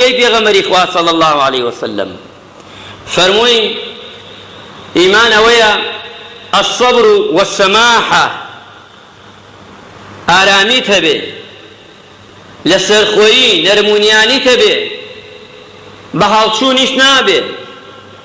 ئەی پێغەمبەری خوا صلی اللە علیە وسلم فەرمووی ئیمان ئەوەیە الصبر والسماحە ئارامیت هەبێ لەسەرخۆیی نەرمونیانیت هەبێ بە هەڵچوونیش نابێ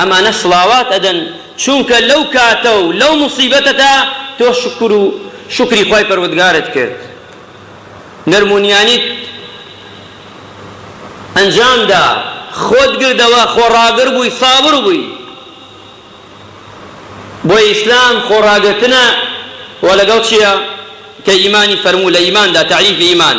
ئەمانە سڵاوات ئەدەن چونکە لەو کاتە و لەو موسیبەتەدا تۆ شوکر و شوکری خوای پەروەدگارت کرد نەرم و نیانیت ئەنجام دا خۆت گردەوە خۆڕاگر بووی سابر بووی بۆیە ئیسلام خۆڕاگرتنە وە لەگەڵ چیە کە ئیمانی فەرموو لە ئیماندا تعریفی ئیمان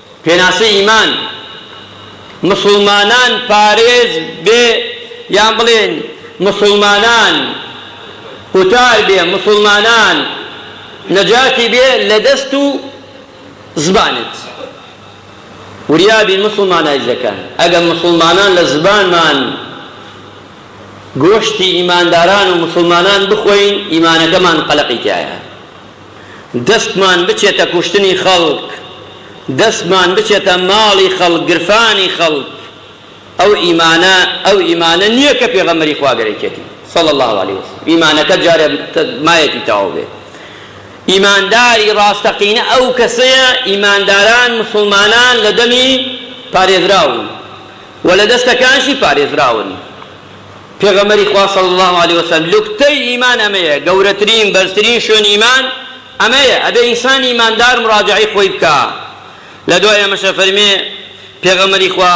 پێناسەی ئیمان، مسوڵمانان پارێز بێ یان بڵێن مسوڵمانان قوتار بێ، مسوڵمانان نەجاتی بێ لە دەست و زبانت. وریا بین مسوڵمانایش دەکەن. ئەگەر مسوڵمانان لە زبانمان گۆشتی ئیمانداران و مسوڵمانان بخۆین، ئیمانەکەمان قەلەقی تیایە. دەستمان بچێتە کوشتنی خەڵک، دەستمان بچێتە ماڵی خەڵک، گرفانی خەڵک، ئەو ئیمانە ئەو ئیمانە نییە کە پێغەمبەری خوا گەرەکیەتی، صلی اللە علیە وسلم، ئیمانەکە جارێ مایەتی تەواو بێت. ئیمانداری ڕاستەقینە ئەو کەسەیە، ئیمانداران موسڵمانان لە دەمی پارێزراون و لە دەستەکانشی پارێزراون. پێغەمبەری خوا صلی اللە علیە وسلم، لوکتەی ئیمان ئەمەیە، گەورەترین بەرزترین شوێن ئیمان ئەمەیە، ئەبێ ئینسان ئیماندار مراجەعەی خۆی بکا، لەدوای ئەمەش ئەفەرمێ پێغەمبەری خوا،